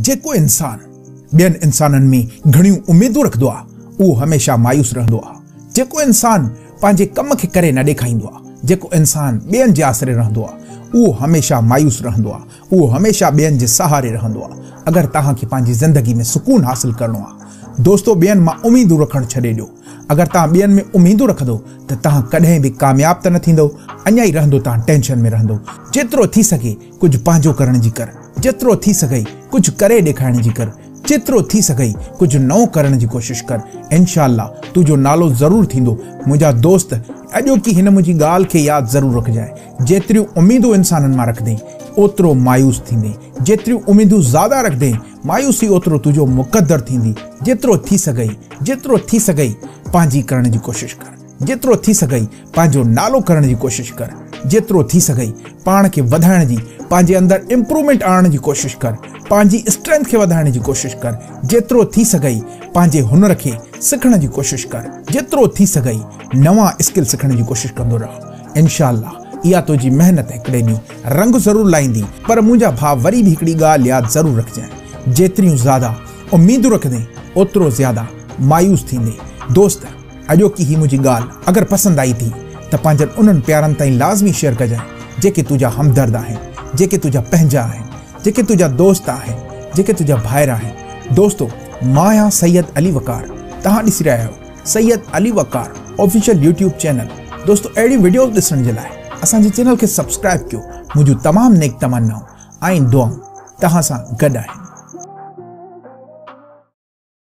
جيڪو انسان ٻين انسانن ۾ گهڻيون اميدون رکندو آهي، اهو هميشه مايوس رهندو آهي. جيڪو انسان پنهنجي ڪم کي ڪري نه ڏيکائيندو آهي، جيڪو انسان ٻين جي آسري رهندو آهي، اهو هميشه مايوس رهندو آهي. اهو هميشه ٻين جي سهاري رهندو آهي. اگر توهان کي پنهنجي زندگي ۾ سڪون حاصل ڪرڻو آهي، دوستو ٻين مان اميدون رکڻ ڇڏي ڏيو. اگر توهان ٻين ۾ اميدون رکندو ته توهان ڪڏهن به ڪامياب ته نه ٿيندو، اڃا ئي رهندو توهان ٽينشن ۾ رهندو. جيترو ٿي سگهي ڪجهه پنهنجو ڪرڻ جي ڪر، جيترو ٿي سگهئي ڪجهه ڪري ڏيکارڻ جي ڪر، جيترو ٿي سگهئي ڪجهه نئون ڪرڻ جي ڪوشش ڪر، انشاء الله تنهنجو نالو ضرور ٿيندو، منهنجا دوست اڄوڪي هن منهنجي ڳالهه کي ياد ضرور رکجانء، جيتريون اميدون انسانن مان رکندين اوترو مايوس ٿيندين، جيتريون اميدون زياده رکندين مايوسي اوترو تنهنجو مقدر ٿيندي، جيترو ٿي سگهئي جيترو ٿي سگهئي پنهنجي ڪرڻ جي ڪوشش ڪر. جيترو ٿي سگهئي پنهنجو نالو ڪرڻ جي ڪوشش ڪر، جيترو ٿي سگهئي پاڻ کي وڌائڻ جي، پنهنجي اندر امپرومينٽ آڻڻ جي ڪوشش ڪر، پنهنجي اسٽرينٿ کي وڌائڻ جي ڪوشش ڪر، جيترو ٿي سگهئي پنهنجي هنر کي سکڻ جي ڪوشش ڪر، جيترو ٿي سگهئي نوان اسڪل سکڻ جي ڪوشش ڪندو رهه، انشاء الله اها تنهنجي محنت هڪڙي ڏينهن رنگ ضرور لائيندي، پر منهنجا ڀاء وري به هڪڙي ڳالهه ياد ضرور رکجانء، جيتريون زياده اميدون رکندين، اوترو زياده مايوس ٿيندين، دوست! اڄوڪي هي منهنجي ڳالهه اگر پسند آئي ٿي ته پنهنجن انهن پيارن تائين لازمي شيئر ڪجانء جيڪي تنهنجا همدرد آهن جيڪي تنهنجا پنهنجا آهن جيڪي تنهنجا دوست آهن جيڪي تنهنجا ڀائر آهن دوستو مان آهيان سيد علي وقار توهان ڏسي رهيا آهيو Syed Ali Waqar official YouTube channel دوستو اهڙيون وڊيوز ڏسڻ جي لاء اسان جي چينل کي سبسڪرائب ڪيو منهنجون تمام نيڪ تمنائون ۽ دعائون توهان سان گڏ آهن.